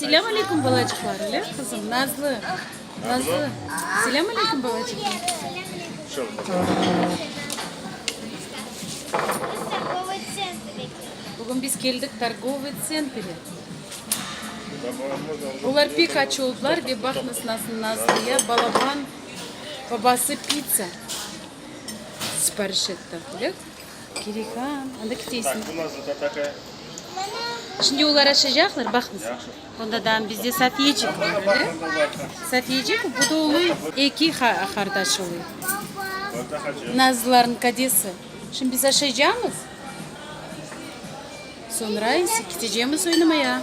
Selâm aleyküm balacıqlar, ele qızım, Nazlı, Nazlı, selâm aleyküm balacıqlar. Bugün biz keldik torgovıy tsentrge. Olar pek aç oldılar ve baqnıs nasıl Nazlıya balaban babası pitsa sipariş etti. Kerek a, anda kiteysiñ. Bu nasıl tatakaya? Şimdi olar açacaqlar, baqıñız. Onda da bizde satiyecik var, öyle? Satiyecik, bu da oluy eki qardaş oluy. Nazlılarnıñ kadesi. Şimdi biz aşacamız, sonra ise kitecemiz oynamaya.